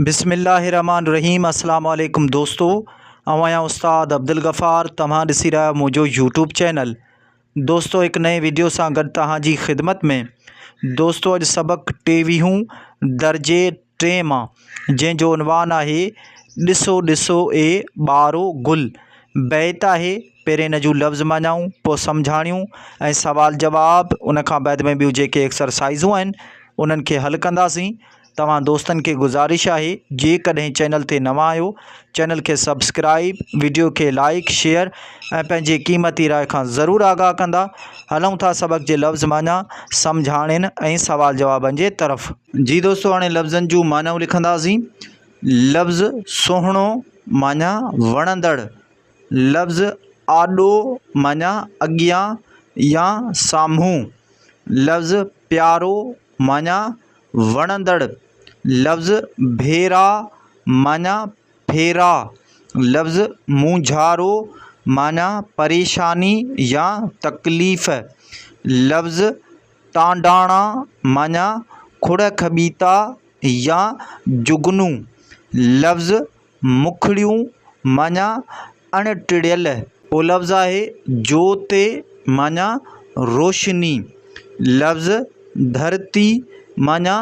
بسم الله الرحمٰن الرحيم السلام عليڪم دوستو آئون آهيان استاد عبدالغفار توهان ڏسي رهيا آهيو منهنجو يوٽيوب چينل دوستو هڪ نئين ويڊيو سان گڏ توهان جي خدمت ۾ دوستو اڄ سبق ٽيويهون درجي ٽي مان جنهن جو عنوان آهي ڏسو ڏسو اي ٻارو گل بيت آهي پهرين ان جون لفظ معنائون پوء سمجهاڻيون ۽ سوال جواب ان کان بعد ۾ ٻيون جيڪي ايڪسرسائزون آهن انهن کي حل ڪنداسين توهان دوستن کي گذارش آهي جيڪڏهن چينل تي نوان آهيو چينل کي سبسڪرائيب وڊيو کي لائيڪ شيئر ۽ پنهنجي قيمتي راء کان ضرور آگاهه ڪندا هلون ٿا سبق جي لفظ معنيٰ سمجهاڻين ۽ سوال جوابن جي طرف. جي دوستو هاڻي لفظن جون معنيٰون لکنداسين لفظ سهڻو معنيٰ وڻندڙ لفظ آڏو معنيٰ اڳيان يا سامهون لفظ پيارو معنيٰ، وڻندڙ، لفظ ڀيرا معنيٰ، ڦيرا، لفظ مونجهارو معنيٰ، پريشاني يا تڪليف، لفظ ٽانڊاڻا معنيٰ، کڙ کٻيتا يا جگنو، لفظ مکڙيون معنيٰ اڻ ٽڙيل اهو لفظ آهي جوتي معنيٰ روشني لفظ ڌرتي معنيٰ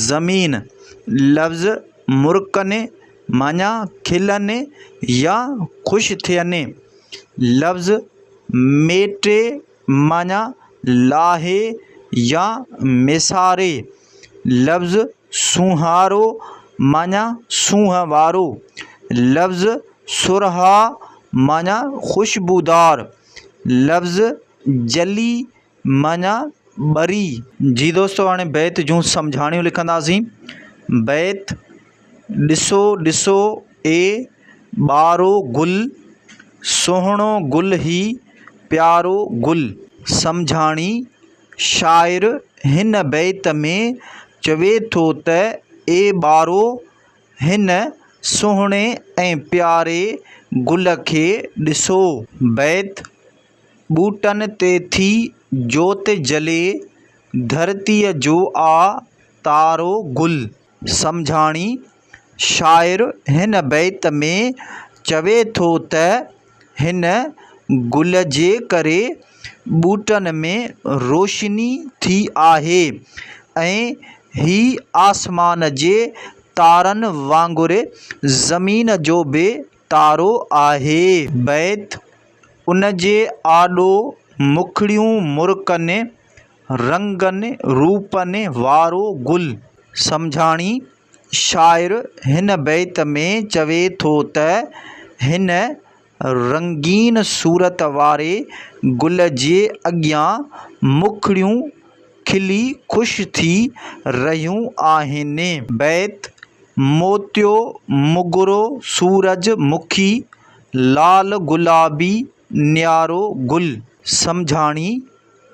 زمين لفظ مرڪني معنيٰ کلني يا خوش ٿيني لفظ ميٽي معنيٰ، لاهي يا ميساري، لفظ سونهارو معنيٰ سونهن وارو، لفظ سرها معنيٰ خوشبودار، لفظ جلي معنيٰ ٻري. جي دوستو هاڻي بيت جون سمجهاڻيون لکنداسين. بيت. ڏسو ڏسو اي ٻارو گل، سهڻو گل هي پيارو گل. سمجهاڻي، شاعر هن بيت ۾ چوي ٿو ته اي ٻارو! هن سهڻي ۽ پياري گل کي ڏسو. بيت، ٻوٽن تي ٿي جوت جلي، ڌرتيء جو آ تارو گل. سمجهاڻي، شاعر هن بيت ۾ چوي ٿو ته، هن گل جي ڪري ٻوٽن ۾ روشني ٿي آهي ۽ هي آسمان جي تارن وانگر زمين جو به تارو آهي. بيت، ان جي آڏو مکڙيون مرڪن. رنگن روپن وارو گل. سمجهاڻي، شاعر هن بيت ۾ چوي ٿو ته هن رنگين صورت واري گل جي اڳيان مکڙيون کلي خوش ٿي رهيون آهن. بيت، موتيو، مگرو، سورج مکي، لال گلابي نيارو گل. سمجهاڻي،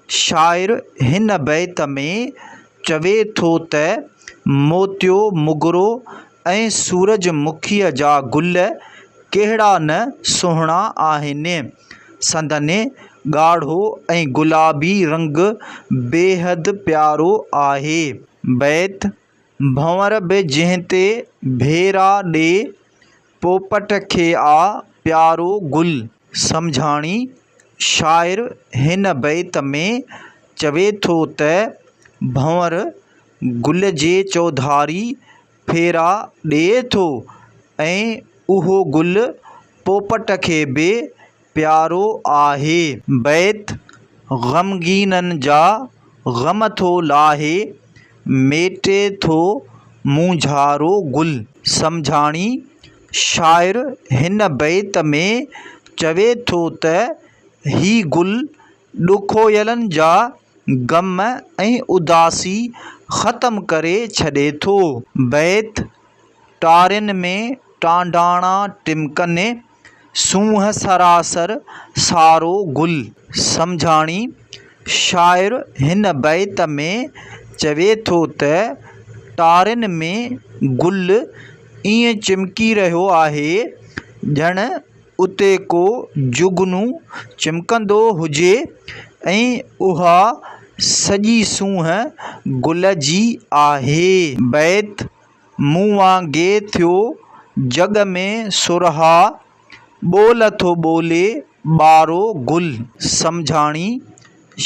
شاعر هن بيت ۾ چوي ٿو ته، موتيو مگرو ۽ سورج مکيء جا گل ڪهڙا نه سهڻا آهن. سندن ڳاڙهو ۽ گلابي رنگ بيحد پيارو آهي. بيت. ڀنور به جنهن تي ڀيرا ڏي، پوپٽ کي آ پيارو گل. سمجهاڻي، شاعر هن بيت ۾ چوي ٿو ته ڀنور گل جي چوڌاري ڦيرا ڏئي ٿو ۽ اهو گل پوپٽ کي به پيارو آهي. بيت، غمگينن جا غم ٿو لاهي، ميٽي ٿو مونجهارو گل. سمجهاڻي، شاعر هن بيت ۾ چوي ٿو ته هي گل ڏکويلن جا غم ۽ اداسي ختم ڪري ڇڏي ٿو. بيت، ٽارين ۾ ٽانڊاڻا ٽمڪني، سونهن سراسر سارو گل سمجهاڻي شاعر هن بيت ۾ چوي ٿو ته ٽارين ۾ گل ائين چمڪي رهيو آهي ڄڻ اتي ڪو جگنو چمڪندو هجي ۽ اها سڄي سونهن گل جي آهي بيت مون وانگي ٿيو جڳ ۾ سرها، ٻول ٿو ٻولي ٻارو گل. سمجهاڻي،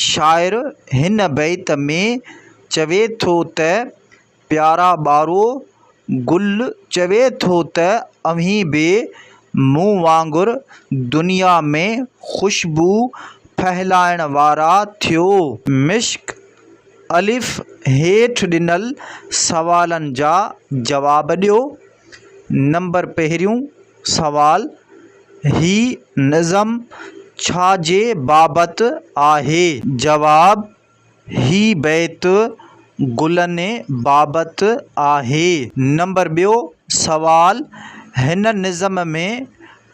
شاعر هن بيت ۾ چوي ٿو ته، پيارا ٻارو گل چوي ٿو ته اوهين به مون وانگر دنيا ۾ خوشبو ڦهلائڻ وارا ٿيو. مشڪ الف، هيٺ ڏنل سوالن جا جواب ڏيو. نمبر پهريون سوال، هي نظم ڇا جي بابت آهي؟ جواب، هي بيت گلن بابت آهي. نمبر ٻيو سوال، هن نظم ۾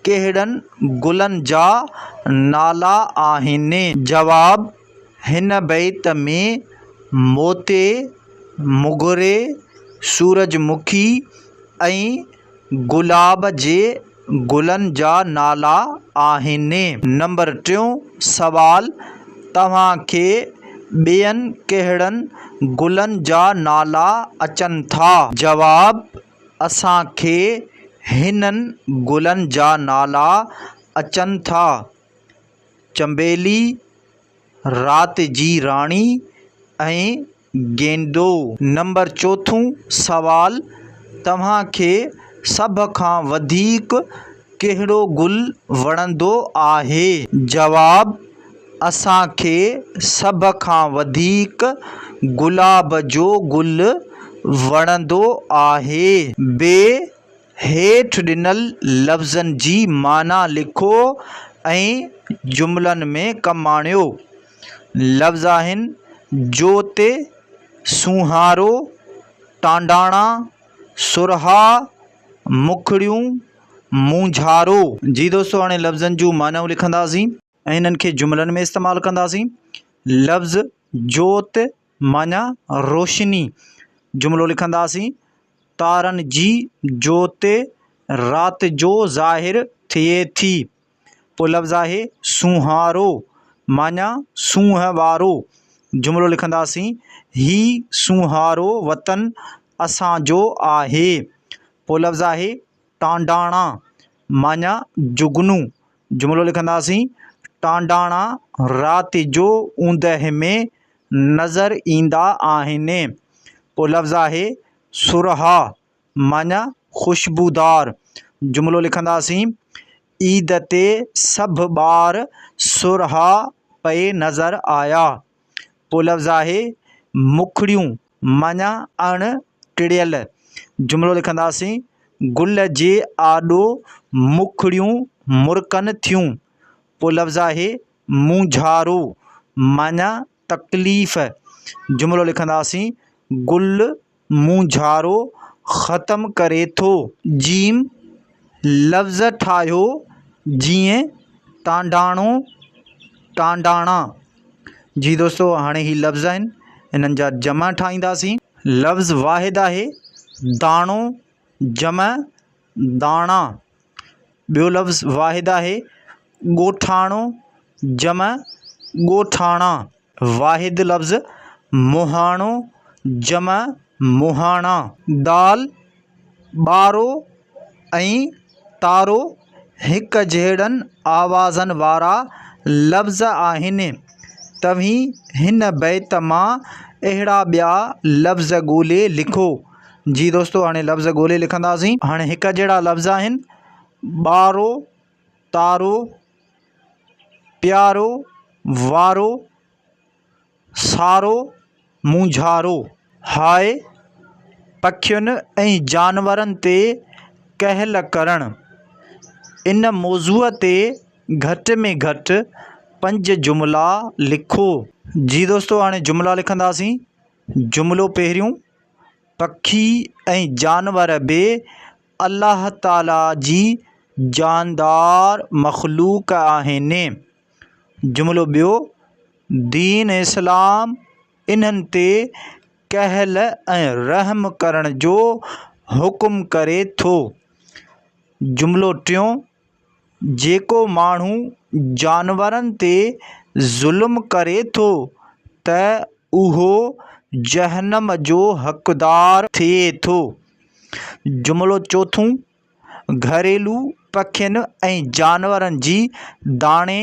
ڪهڙن گلن جا نالا آهن؟ جواب، هن بيت ۾ موتي، موگري، سورج مکي ۽ گلاب جي گلن جا نالا آهن. نمبر ٽيون سوال، توهان کي ٻين ڪهڙن گلن جا نالا اچن ٿا؟ جواب، اسان کي هنن گلن جا نالا اچن ٿا، چنبيلي، رات جي راڻي ۽ گينڊو. نمبر چوٿون سوال توهان کي سڀ کان وڌيڪ ڪهڙو گل وڻندو آهي؟ جواب، اسان کي سڀ کان وڌيڪ گلاب جو گل وڻندو آهي. ب، هيٺ ڏنل لفظن جي معنيٰ لکو ۽ جملن ۾ ڪم آڻيو. لفظ آهن، جوت، سونهارو، ٽانڊاڻا، سرها، مکڙيون، مونجهارو جي دوستو هاڻي لفظن جون معنائون لکنداسين ۽ انهن کي جملن ۾ استعمال ڪنداسين لفظ جوت معنيٰ روشني جملو لکنداسين تارن جي جوت رات جو ظاهر ٿئي ٿي پوء لفظ آهي سونهارو معنيٰ سونهن وارو جملو لکنداسين، هي سونهارو وطن اسان جو آهي. پوء لفظ آهي ٽانڊاڻا معنيٰ جگنو جملو لکنداسين، ٽانڊاڻا رات جو اوندهه ۾ نظر ايندا آهن. پوء لفظ آهي سرها. معنيٰ، خوشبودار جملو لکنداسين، عيد تي سڀ ٻار سرها پئي نظر آيا. پوء لفظ آهي، مکڙيون معنيٰ، اڻ ٽڙيل جملو لکنداسين، گل جي آڏو مکڙيون مرڪن ٿيون. پوء لفظ آهي، مونجهارو معنيٰ، تڪليف جملو لکنداسين، گل مونجهارو ختم ڪري ٿو. ج لفظ ٺاهيو جيئن، ٽانڊاڻو، ٽانڊاڻا. جي دوستو هاڻي هي لفظ آهن هنن جا جمع ٺاهينداسين. لفظ واحد آهي، داڻو، جمع، داڻا، ٻيو لفظ واحد آهي، ڳوٺاڻو، جمع، ڳوٺاڻا، واحد لفظ، مهاڻو، جمع، مهاڻا. دال، ٻارو ۽ تارو هڪجهڙن آوازن وارا لفظ آهن. توهين هن بيت مان اهڙا ٻيا لفظ ڳولي لکو. جي دوستو هاڻي لفظ ڳولي لکنداسين. هاڻي هڪ جهڙا لفظ آهن، ٻارو، تارو، پيارو، وارو، سارو، مونجهارو. هاء، پکين ۽ جانورن تي ڪهل ڪرڻ. ان موضوع تي گهٽ ۾ گهٽ پنج جملا لکو. جي دوستو هاڻي جملا لکنداسين. جملو پهريون، پکي ۽ جانور به الله تعاليٰ جي جاندار مخلوق آهن. جملو ٻيو، دين اسلام انهن تي ڪهل ۽ رحم ڪرڻ جو حڪم ڪري ٿو. جملو ٽيون، جيڪو ماڻهو جانورن تي ظلم ڪري ٿو ته اهو جهنم جو حقدار ٿئي ٿو. جملو چوٿون، گهريلو پکين ۽ جانورن جي داڻي،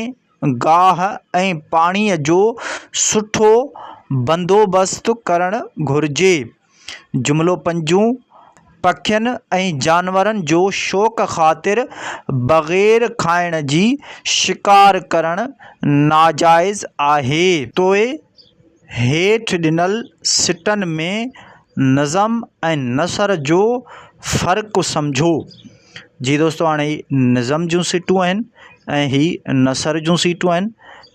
گاهه ۽ پاڻيء جو سٺو بندوبست ڪرڻ گهرجي. جملو پنجون، پکين ۽ جانورن جو شوق خاطر بغير کائڻ جي شڪار ڪرڻ ناجائز آهي. توء هيٺ ڏنل سٽن ۾ نظم ۽ نثر جو فرق سمجهو. جي دوستو هاڻي هي نظم جون سٽون آهن ۽ هي نثر جون سيٽون آهن.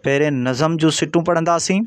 پهرين نظم جون سٽون پڙهنداسين.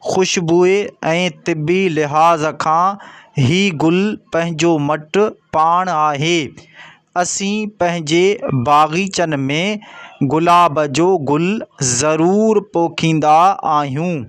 خوشبوء ۽ طبي لحاظ کان هي گل پنهنجو مٽ پاڻ آهي. اسين پنهنجي باغيچن ۾ گلاب جو گل ضرور پوکيندا آهيون.